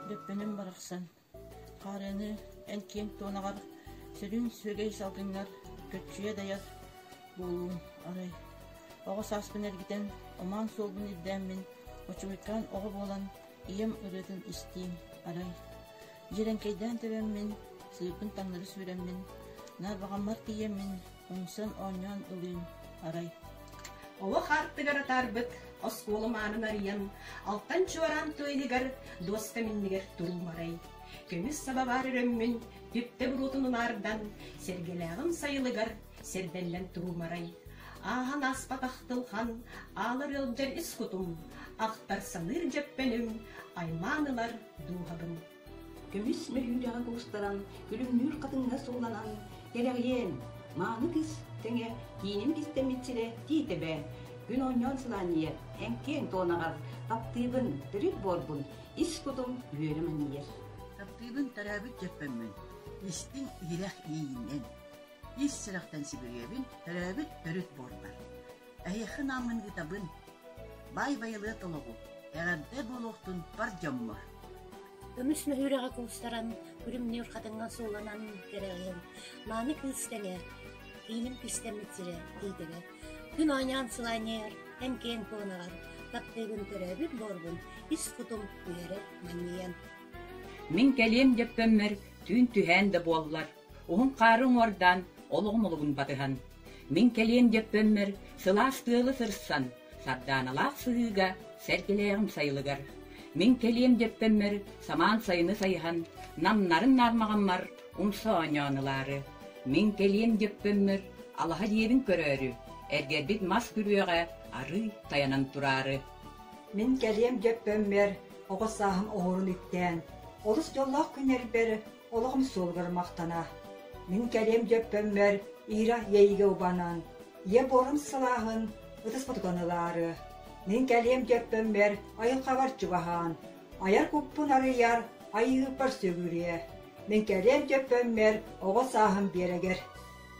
Дөппөнүм барахсан, хаарыаны эн киэҥ туонаҕар сүрүн сүөгэй салгыҥҥар көччүйэ дайар буолуум, арай оҕо сааспын эргитэн, омаан суолбун ирдээммин, очугуйкаан оҕо буолан, ийэм ырыатын истиим, арай дьирэҥкэйдээн тэбэммин, сыырбын таҥнары сүүрэммин, наар баҕаммар тиийэммин, оҥсон-оонньоон ылыыҥ арай. Олох аартыгар атаарбыт оскуолам аанын арыйан, алтан чуораан туойныгар дуоска миннигэр туруум арай. Көмүс саба баар өрөммүн түптэ буруотун унаардан, сэргэлээҕим сайылыгар сэрдэллэн туруум арай. Ааһан ааспатах тылхан, аалар ыалдьар ис кутум, ахтар саныыр дьэппэним, аймаан ылар дууһабын. Көмүс мөһүүдэҕэ кустаран, күлүмнүүр хатыҥҥа сууланан, «Кэрэҕиэн, мааны кыс!» тэҥэ киинин кистэммит сирэ Тиитэбэ. Күн оонньоон сылаанньыйар, эҥкиэҥ туонаҕар, таптыыбын, төрүт буорбун, ис кутум үөрэ манньыйар. Таптыыбын төрөөбүт дьөппөммүн, истиҥ иһирэх иэйиинэн, ис сүрэхтэн сибириэбин төрөөбүт төрүт буорбар. Эһиэхэ ынааммын ыытабын, баай байылыат олоҕу, эҕэрдэ буолуохтун бар дьоммор Көмүс мөһүүрэҕэ куустаран, күлүмнүүр хатыҥҥа сууланан кэрэҕиһин, мааны кыыс тэнэ, кииним кистэммит сирэ тиитэрэ, күн оонньоон сылаанньыйар, эн-киэн туонаҕар, таптыыбын төрөөбүт буорбун, ис кутум үөрэ манньыйан. Мин кэлиэм дэппэммэр түүн түһээн да буоллар Уһун хаары уҥуордаан олох умулугун батыһан, мин кэлиэм диэппэммэр сылаас тыалы сырсан, сардааналаах сыһыыга сэргэлээҕим сайылыгар, мин кэлиэм диэппэммэр самаан сайыны сайыһан, намнарын наармаҕаммар умса оонньоон ылаары, мин кэлиэм диэппэммэр алаһа диэбин көрөөрү, эргэрбит мас күрүөҕэ арыый тайанан тураары. Мин кэлиэм диэппэммэр оҕо сааһым оһуорун иктээн, олус дьоллоох күннэрбэр олоҕум суолугар махтана, мин кэлиэм дьөппөммөр Ира иэйиигэ убанан, ийэ буорум сылааһын ытыспытытан ылаары, мин кэлиэм дьөппөммөр айылҕабар чугаһаан, айар куппун арыйар, айыыбар сөгүрүө, мин кэлиэм дьөппөммөр оҕо сааһым биэрэгэр